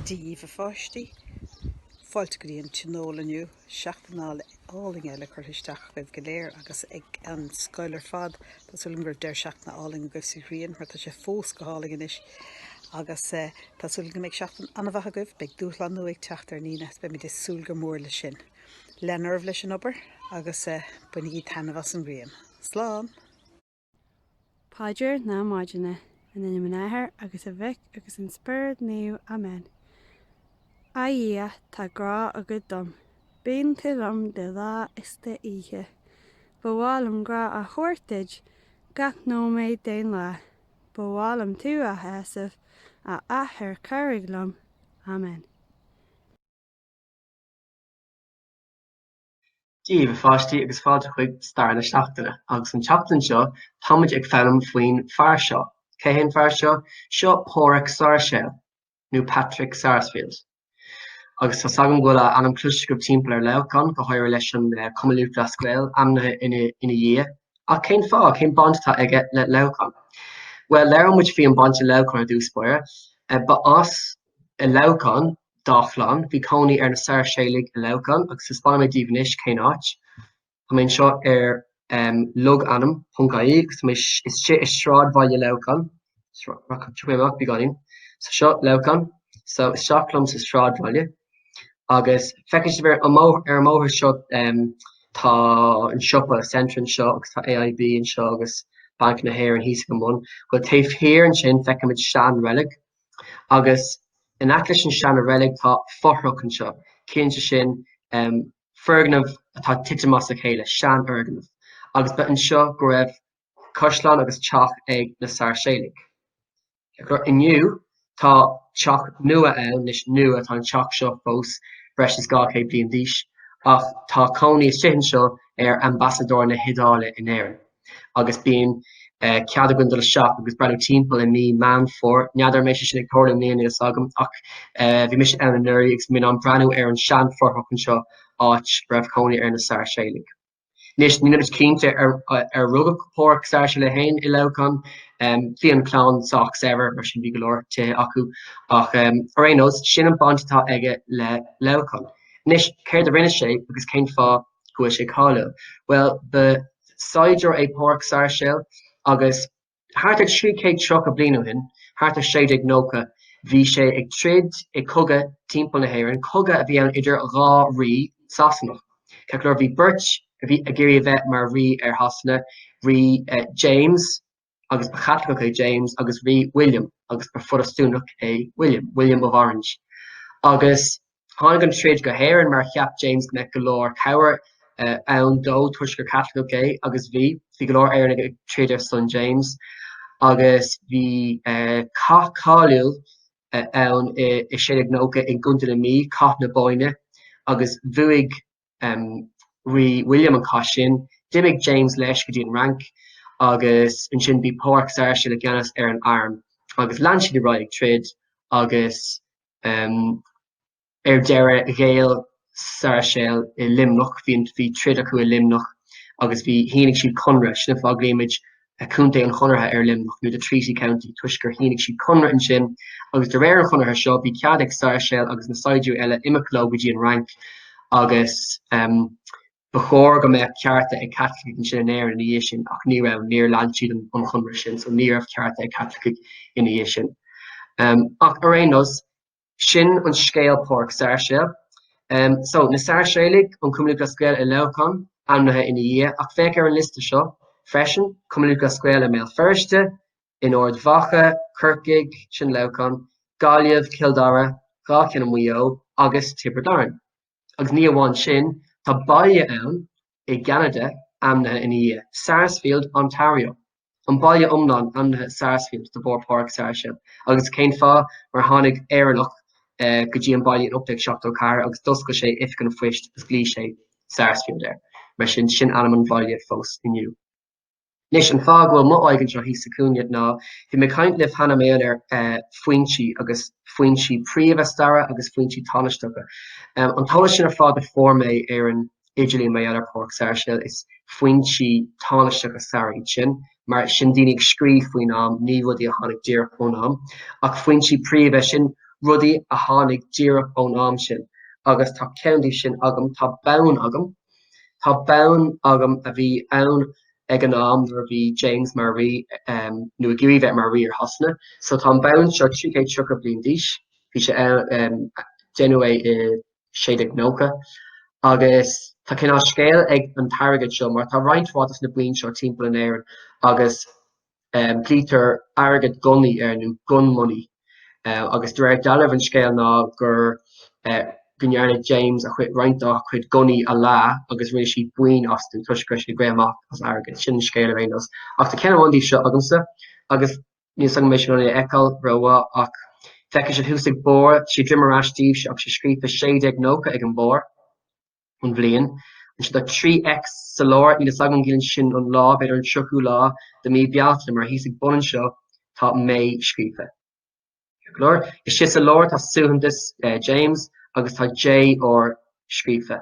díobh a pháistí. Fáilte go dtí an Tionól inniu, seachtain álainn eile curtha isteach agaibh go léir agus ag an scoil ar fad. Tá súil agam go raibh deireadh seachtaine álainn agaibh sa ghrian mar tá sé fós go hálainn anois agus tá súil agam go mbeidh seachtain an-mhaith agaibh, beidh dúshlán nua ag teacht ar ndaoine agus beimid ag súil go mór leis sin. Lean oraibh leis an obair agus bainigí taitneamh as an ghrian. Slán! Paidir na Maidine. In ainm an Athar, agus an Mhic, agus an Spiorad Naomh. Amen. A Dhia, tá grá agat dom. Bíonn tú liom de lá is d'oíche. Ba mhaith liom grá a thabhairt duit gach nóiméad den lá. Ba mhaith liom tú a shásamh, a Athair cabhraigh liom. Amen. díobh a pháistí agus fáilte chuig Stair na Seachtaine agus an tseachtain seo táimid ag foghlaim faoin fear seo. Cé hé an fear seo? Seo Páraic Sáirséal, nó Patrick Sarsfield, agus tá's agam go bhfuil a ainm cloiste agaibh timpeall ar Leamhcán, go háirithe leis an cumann lúthchleas Gael ainmnithe ina dhiaidh. Ach cén fáth? Cén baint atá aige le Leamhcán? Bhuel, labhróimid faoin mbaint le Leamhcán i dtús báire. Ba as Leamhcán dá chlann, bhí cónaí ar na Sairséalaigh i Leamhcán agus taispeánfaidh mé daoibh anois cén áit. Tá mé anseo ar logainm ponc ie agus tá mé istigh i sráidbhaile Leamhcáin. Rachaidh mé amach beagáinín. So seo Leamhcán. So isteach liom sa sráidbhaile agus feicfidh sibh ar an mbóthar seo tá an siopa Centra anseo agus tá AIB anseo agus Banc na hÉireann thíos ag bun. Bhuel taobh thiar ansin feicfimid seanreilig agus in aice leis an seanreilig tá fothrach anseo, ciallaíonn sé sin foirgneamh atá titim as a chéile, seanfhoirgneamh, agus ba anseo go raibh caisleán agus teach ag na Sairséalaigh. Inniu tá teach nua ann, anois nua, tá an teach seo fós breis is 200 bliain d'aois, ach tá cónaí istigh anseo ar Ambasadóir na hIodáile in Éirinn. agus bíonn cead againn dul isteach agus breathnú timpeall i mí Meán Fómhair. N'fheadar an mbeidh sé sin ag tarlú i mbliana, níl fhios agam, ach bhí mise ann anuraidh agus bhí mé in ann breathnú ar an seanfhothrach anseo, áit a raibh cónaí ar na Sairséalaigh. Anois, níl muid cinnte ar rugadh Pádhraic Sairséal é féin i Leamhcán, bhí an clann sách saibhir, mar sin bhí go leor tithe acu, ach ar aon nós, sin an baint atá aige le Leamhcán. Anois, céard a rinne sé agus cén fáth go bhfuil sé cáiliúil. Bhuel, ba saighdiúir é Pádhraic Sairséal agus thart ar 330 bliain ó shin, thart ar 1690, bhí sé ag troid i gcogadh timpeall na hÉireann, cogadh a bhí ann idir dhá rí Sasanach. Ceart go leor bhí beirt a bhí ag iarraidh a bheith mar rí ar Shasana, rí James, agus ba Chaitliceach é James agus Rí William agus ba Phrotastúnach é William, William of Orange. Agus tháinig an troid go hÉirinn mar cheap James go mbeadh go leor cabhair ann dó toisc gur Chaitliceach é agus bhí, bhí go leor Éireannaigh ag troid ar son James agus bhí cath cáiliúil ann i 1690 i gContae na Mí, Cath na Bóinne, agus bhuaigh um, rí William an cath sin. D'imigh James leis go dtí an Fhrainc agus ansin bhí Pádraig Sáirséal i gceannas ar an arm agus lean siad ar aghaidh ag troid agus um, ar deireadh ghéil Sáirséal i Luimneach, bhí troid acu i Luimneach agus bhí shínigh siad conradh sin an fáth a nglaoimid Contae an Chonartha ar Luimneach nó The Treaty County toisc gur shínigh siad conradh ansin agus de réir an chonartha seo bhí cead ag Sáirséal agus na saighdiúir eile imeacht leo go dtí an Fhrainc agus ba chóir go mbeadh cearta ag Caitlicigh ansin in Éirinn ina dhiaidh sin ach ní raibh, níor lean siad an chonradh sin so ní raibh cearta ag Caitlicigh ina dhiaidh sin. Ach ar aon nós, Sin an scéal Pádraig Sáirséal. So, na Sáirséalaigh, an Cumann Lúthchleas Gael i Leamhcán, ainmnithe ina dhiaidh, ach féach ar an liosta seo freisin, Cumann Lúthchleas Gael i mBéal Feirste, in Ard Mhacha, Corcaigh, sin Leamhcán, Gaillimh, Cill Dara, dhá cheann i Maigh Eo agus Tiobraid Árann. Agus ní amháin sin, tá baile ann i gCeanada ainmnithe ina dhiaidh, Sarsfield, Ontario. An baile iomlán ainmnithe Sarsfield de bharr Pádraig Sáirséal, agus cén fáth? Mar tháinig Éireannach go dtí an baile in 1874 agus d'oscail sé oifig an phoist agus ghlaoigh sé Sarsfield air, mar sin sin ainm an bhaile fós inniu. Anois, an fáth go bhfuil mo aghaidh anseo thíos sa chúinne ná bhí mé ag caint libh cheana maidir le foinsí agus foinsí príomha staire agus foinsí tánaisteacha. An t-eolas sin ar fad a fuair mé ar an idirlíon maidir le Pádraig Sáirséal is foinsí tánaisteacha is ea iad sin mar sin daoine ag scríobh faoin am ní rudaí a tháinig díreach ón am ach foinsí príomha sin rudaí a tháinig díreach ón am sin agus tá ceann díobh sin agam tá bonn agam tá bonn agam a bhí ann ag an am nuair a bhí James mar rí um, nó ag iarraidh bheith mar rí ar Shasana so tá an bonn seo 330 bliain d'aois bhí sé um, déanadh é i 1690 agus tá cineál scéil ag an t-airgead seo mar tá roinnt mhaith de na boinn seo timpeall in Éirinn agus glaoitear airgead gunnaí air nó gun money agus de réir dealraimh an scéal ná gur go ndearna James a chuid roinnt dá chuid gunnaí a leá agus rinne siad boinn astu toisc go raibh sé ag rith amach as airgead. Sin an scéal ar aon nós. Ach tá ceann amháin díobh seo agamsa agus Níl fhios agam an mbeidh sibh in ann é a fheiceáil rómhaith ach feicfidh sibh thuas ag an barr, sé droim ar ais daoibh ach sé scríofa 1690 ag an barr, an bhliain. Ansin tá trí X sa lár, níl fhios agam an gciallaíonn sin an lá, b'fhéidir an tríochú lá de mí Bealtaine mar thíos ag an bun anseo tá May scríofa. Go leor. Istigh sa lár tá suaitheantas James agus tá JR scríofa.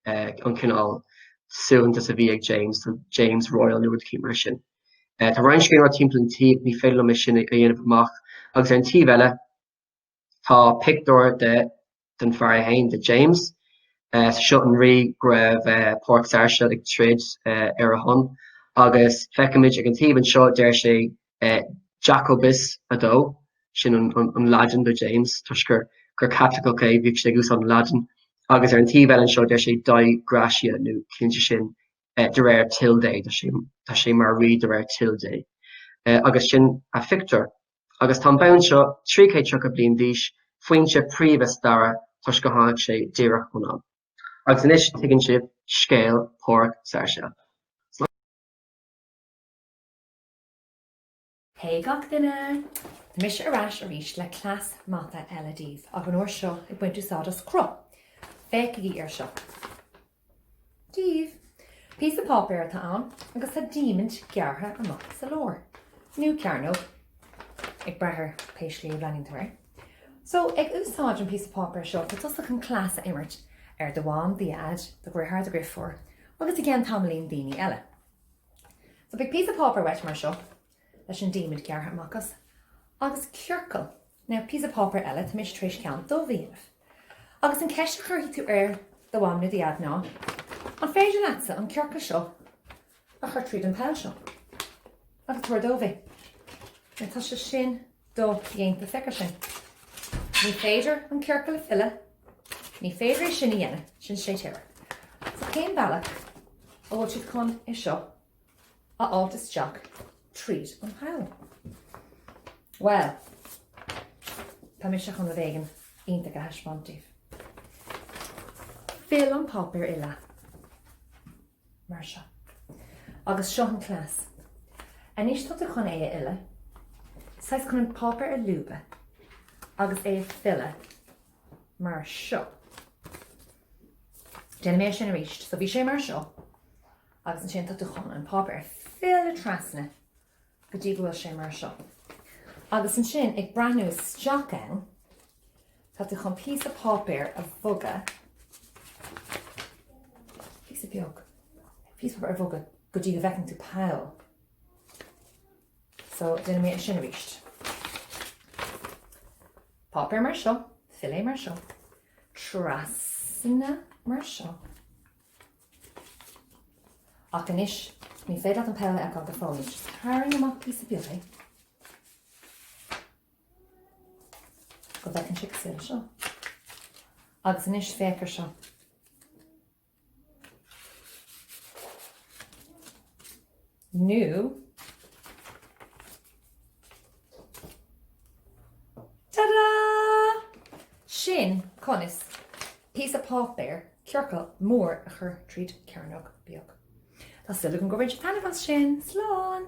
an cineál suaitheantas a bhí ag James, do James Royal nó rud éicint mar sin. Eh, tá roinnt scríbhneoireacht timpeall an taobh, ní féidir liom é sin a dhéanamh amach, agus ar an taobh eile tá pictiúr de den fear é féin, de James, eh, so seo an rí go raibh eh, Pádraig Sairseal ag troid eh, ar a shon, agus feicimid ag an taobh anseo, deir sé, Jacobus, 2. Sin an Laidin do James toisc gur Caitliceach é, bhíodh sé ag úsáid an Laidin. Agus ar an taobh eile anseo deir sé Dei Gratia nó ciallaíonn sé sin de réir toil Dé, tá sé mar rí de réir toil Dé. Agus sin an pictiúr. Agus tá an bonn seo 330 bliain d'aois, foinse príomha staire toisc gur tháinig sé díreach ón am. Agus anois tuigeann sibh scéal Pádhraic Sairséil. Hey gach duine! Mise ar ais arís le cleas mata eile daoibh, ach an uair seo ag baint úsáid as cruth. Féachaigí ar seo. Daoibh! Píosa páipéir atá ann agus tá diamaint gearrtha amach sa lár. Nó cearnóg, ag brath ar pé slí a bhreathnaíonn tú air. So, ag úsáid an píosa páipéir seo, tá tusa chun cleas a imirt ar do mham, do dhaid, do dheartháir, do dheirfiúr agus i gceann tamaillín daoine eile. So beidh píosa páipéar uait mar seo, leis an diamant gearrtha amach as, agus ciorcal nó píosa páipéir eile tá mise tar éis ceann dubh a dhéanamh, agus an ceist a chuirfidh tú ar do mham nó do dheaid ná, An féidir leatsa an ciorcal seo a chur tríd an poll seo agus tabhair dóibh é? Now tá sé sin dodhéanta féach air sin. Ní féidir an ciorcal a filleadh, ní féidir é sin a dhéanamh, sin séitéireacht. So cén bealach a bhfuil siad chun é seo a fháilt isteach tríd an pholl? Bhuel, tá mise chun rud éigin iontach a thaispeáint daoibh. Fill an páipéar i leath. mar seo. Agus seo an cleas. Anois tá tú chun é a fhilleadh, saghas chun an páipéar a lúbadh agus é a filleadh mar seo. Déanfaidh mé sin arís, so bhí sé mar seo agus ansin tá tú chun an páipéar a filleadh trasna go dtí go bhfuil sé mar seo. Agus ansin ag breathnú isteach ann, tá tú chun píosa páipéir a bhogadh, píosa beag, píosa páipéir a bhogadh go dtí go bhfeiceann tú poll. So, déanfaidh mé é sin arís. Páipéar mar seo, fill é mar seo, trasna mar seo. Ach anois, ní féidir leat an poll a fheiceáil go fóill. Tarraing amach píosa beag é go bhfeiceann sé cosúil le seo. Agus anois féach ar seo. nó Tada! Sin conas píosa páipéir ciorcal mór a chur tríd cearnóg beag. Tá súil agam gur bhain tú taitneamh as sin. Slán!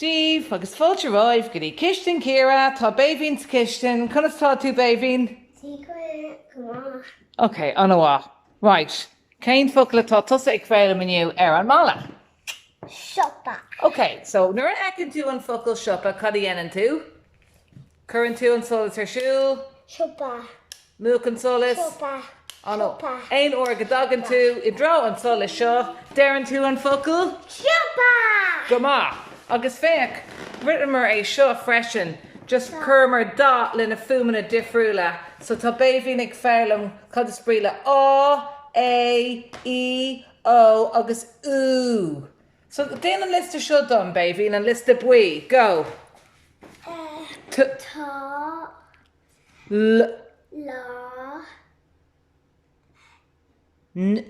díbh agus fáilte romhaibh go dtí Cistin Ciara, tá Béibhinn sa chistin. Conas atá tú Béibhinn? Ok, an-mhaith. Right, cén focal atá tusa ag foghlaim inniu ar an mballa? siopa. Ok, so nuair a fheiceann tú an focal siopa, cad a dhéanann tú? Cuireann tú an solas ar siúl? Siopa. Múch an solas? Siopa. An siopa. Aon uair go dtagann tú i dtreo an solais seo, deireann tú an focal? Siopa! Go maith. Agus féach, rinneamar é seo freisin, just chuireamar dath leis na fuaimeanna difriúla. So tá Béibhinn ag foghlaim cad is brí le á, é, í, ó agus ú. So, déan an liosta seo dom, Béibhinn, an liosta buí. Go. T. Tá. L. Lá. N.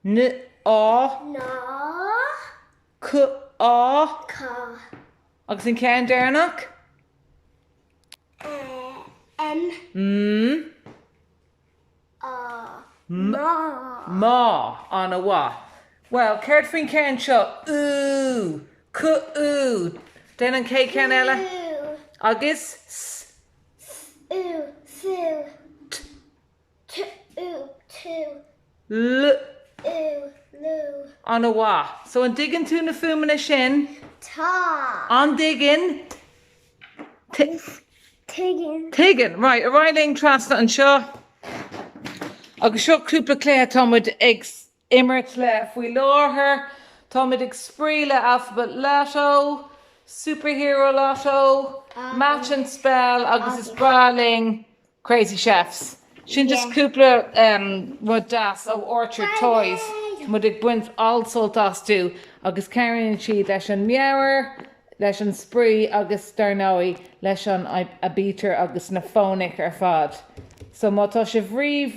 N. Á. Ná. C. Á. Cá. Agus an ceann deireanach? M. M. Má! An-mhaith. Bhuel, céard faoin gceann seo? Ú! Cú-ú! Déan an chéad cheann eile. Cú! Agus? S. S-ú! Sú! T. T-ú! Tú! L. Ú! Lú! An-mhaith. So, an dtuigeann tú na fuaimeanna sin? Tá! An dtuigeann? Tuigeann. Tuigeann. Right, ar aghaidh linn trasna anseo agus seo cúpla cluiche atá muid ag imirt le faoi láthair. Tá muid ag spraoi le Alphabet Lotto, Superhero Lotto, Match and Spell agus is breá linn Crazy Chefs. Sin just cúpla rud deas ó Orchard Toys, muid ag baint an-sult astu agus cabhraíonn siad leis an meabhair, leis an spraoi agus dar ndóigh leis an aibítir agus na fónaic ar fad. So má tá sibh riamh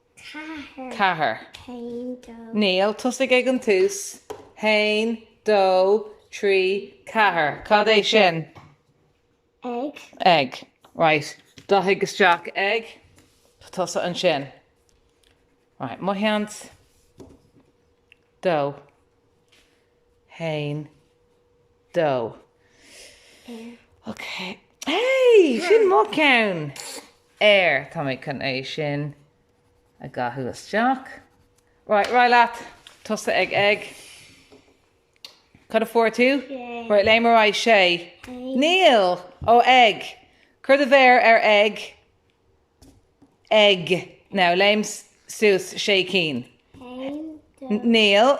ceathair, haon, dó. Níl, tosaigh ag an tús, haon, dó, trí, ceathair. Cad é sin? Ag. Ag. Right. Dathaigh isteach ag. Tusa ansin. Right. Mo sheans. Dó. haon, dó. Ok. Hey! Sin mo ceann! Air! Tá mé chun é sin a dhathú isteach. Right, Right, leat. Tusa ag ag. Cad a fuair tú? Right, léim ar aghaidh sé. Níl! Ó ag. Cur do mhéar ar ag. Ag. Now, léim suas sé cinn. Níl.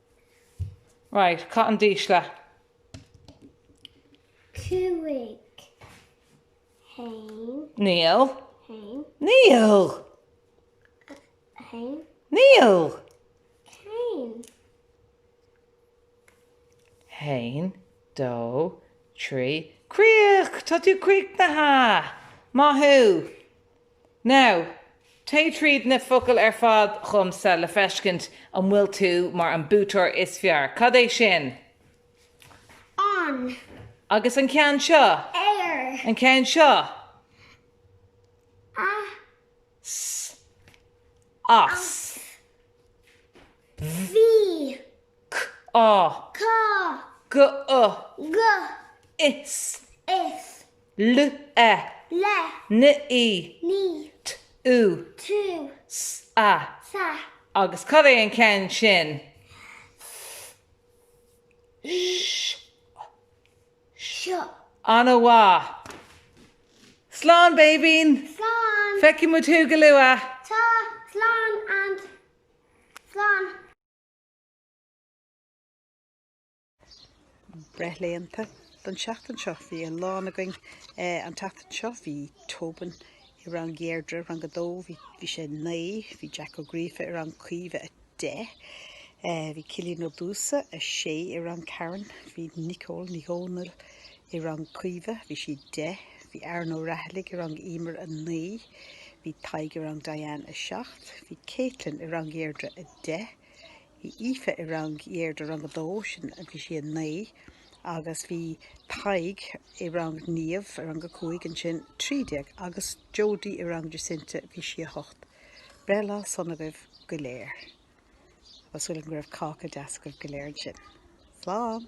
Right, caith an dísle. Cúig. Haon. Níl. Haon. Níl. Haon. Níl. Haon. Haon, dó, trí. Críoch! Tá tú críochnaithe! Maith thú! Now, téigh tríd na focail ar fad dhomsa le feiscint an bhfuil tú mar an buaiteoir is fearr. Cad é sin? An. Agus an ceann seo? Ar. An ceann seo? As. S. As. Bh. Bhí. C. Á. Cá. G. O. Go. Is. Is. L, e, le, n, í, ní, t, ú, tú, s, a, sa. Agus cad é an ceann sin? S, eo, seo. An-mhaith. Slán, Béibhinn! Slán! Feicfidh muid thú go luath! Tá, slán and slán. breithlaethanta don seachtain seo. Bhí a lán againn an tseachtain seo. Bhí Tobin i rang Dheirdre, rang a dó, bhí bhí sé a naoi, bhí Jack Ó Gríofa i rang Caoimhe a deich, bhí Cillian Ó Dúsa a sé i rang Karen, bhí Nicole Nic Dhomhnaill i rang Caoimhe, bhí sí deich, bhí Aaron Ó Raghallaigh i rang Emer a naoi, bhí Tadhg i rang Diane a seacht, bhí Caitlin i rang Dheirdre a deich, Aoife i rang Dheirdre rang a dó, sin a bhí sí a naoi agus bhí Tadhg i rang Niamh i rang a cúig ansin trí déag agus Jodie i rang Jacinta bhí sí a hocht. Breithlá sona agaibh go léir. Tá súil agam go raibh cáca deas agaibh go léir ansin. Slán!